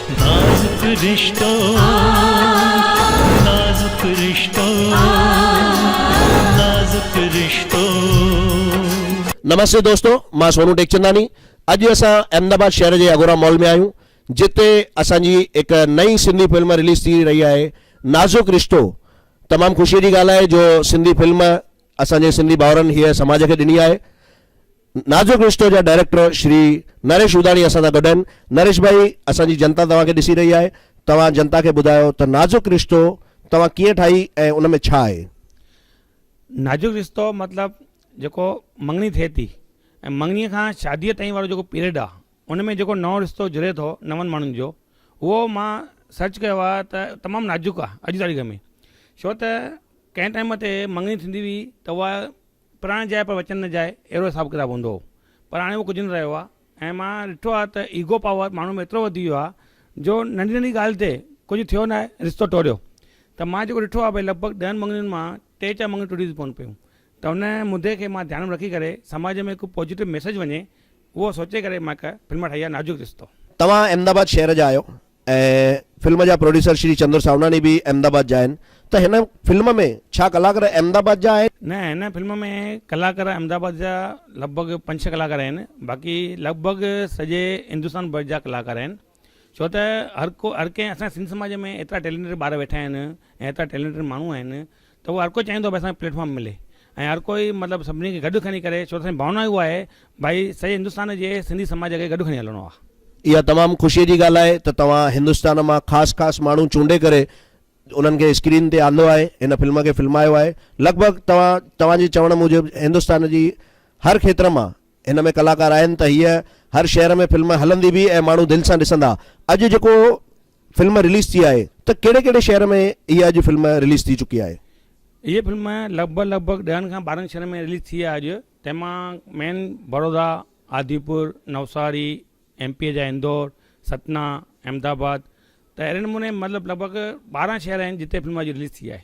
نازڪ رشتو نازڪ رشتو نازڪ رشتو. نمستي دوستو مان سونو ٽيڪچنداني اڄ اسان احمد آباد شهر جي اگورا مال ۾ آهيون جتي اسان جي هڪ نئين سنڌي فلم رليز ٿي رهي آهي نازڪ رشتو تمام خوشي جي ڳالهه آهي جو سنڌي فلم اسان جي سنڌي ڀائرن هيء سماج کي ڏني آهي نازڪ رشتو جا ڊائريڪٽر شري نريش اوداڻي اسان سان گڏ آهن، نريش ڀائي اسان جي جنتا توهان کي ڏسي رهي آهي، توهان جنتا کي ٻڌايو ته نازڪ رشتو توهان ڪيئن ٺاهي ۽ ان ۾ ڇا آهي؟ نازڪ رشتو مطلب جيڪو مڱڻي ٿئي ٿي ۽ مڱڻي کان شادي تائين وارو جيڪو پيريڊ آهي ان ۾ جيڪو نئون رشتو جڙي ٿو نون ماڻهن جو اهو مان سرچ ڪيو آهي ته تمام نازڪ آهي اڄ جي تاريخ ۾ ڇو ته ڪنهن ٽائيم تي مڱڻي ٿيندي هئي ته اها پراڻ جاء پر وچن نه جاء اهڙو حساب ڪتاب هوندو هو پر هاڻي اهو ڪجهه نه رهيو آهي ۽ مان ڏٺو آهي ته ايگو پاور ماڻهن ۾ ايترو وڌي ويو آهي جو ننڍي ننڍي ڳالهه تي ڪجهه ٿيو نه آهي رشتو ٽوڙيو ته مان جيڪو ڏٺو آهي ڀئي لڳ ڀڳ ڏهن مڱڻين مان ٽي چار مڱڻيون ٽٽي ٿي پون پيون ته ان مدي کي مان ڌيان ۾ رکي ڪري سماج ۾ هڪ پوزيٽو ميسيج وڃي اهو سوچي ڪري مان هڪ فلم ٺاهي آهي نازڪ رشتو. توهان احمد آباد شهر جا آهيو ۽ فلم جا پروڊيوسر شري چندر ساوناڻي به احمد آباد جا آهن ته هن فلم ۾ ڇا ڪلاڪر احمد آباد جا آهن؟ نه هن فلم ۾ ڪلاڪر احمد آباد جا لڳ ڀڳ پنج ڇهه ڪلاڪر آهن باقي لڳ ڀڳ سڄي هندستان ڀر جا ڪلاڪار آهن ڇو ته هر ڪو هر ڪنهن اسان جي سنڌ سماج ۾ ايترا ٽيلينٽيڊ ٻار ويٺا آهن ۽ ايترا ٽيلينٽيڊ ماڻهو آهن ته اهو هر ڪو چاهيندو ڀاء اسان کي پليٽ فارم ملي ۽ هر ڪوئي مطلب سڀني کي گڏ کڻي ڪري ڇو ته اسانجي ڀاونا اها آهي ڀائي سڄي هندستان جي سنڌي سماج کي گڏ کڻي هلڻو آهي. اها تمام خوشي جي ڳالهه آهي ته توهان هندستان مان خاص خاص ماڻهو چونڊي ڪري انهن کي اسڪرين تي آندو آهي هن فلم کي فلمايو آهي لڳ ڀڳ توهان توهان جي چوڻ موجب هندستان جي هر کيتر مان هن ۾ ڪلاڪار آهن ته هيء هر شهر ۾ فلم هلندي به ۽ ماڻهو دل سان ڏسندا اڄ جيڪو فلم رليز ٿي آهي ته ڪهڙي ڪهڙي شهر ۾ هيء اڄ فلم رليز ٿي چڪي آهي؟ هيء فلم لڳ ڀڳ لڳ ڀڳ ڏهن کان ٻارهن شهرن ۾ رليز ٿي آهي اڄ تنهن مان مين بڙودا، آديپور، نوساري، ايم پي جا اندور، ستنا، احمدآباد ته اهڙي نموني مطلب لڳ ڀڳ ٻارهن شهر آهن جتي فلم اڄ رليز ٿي آهي.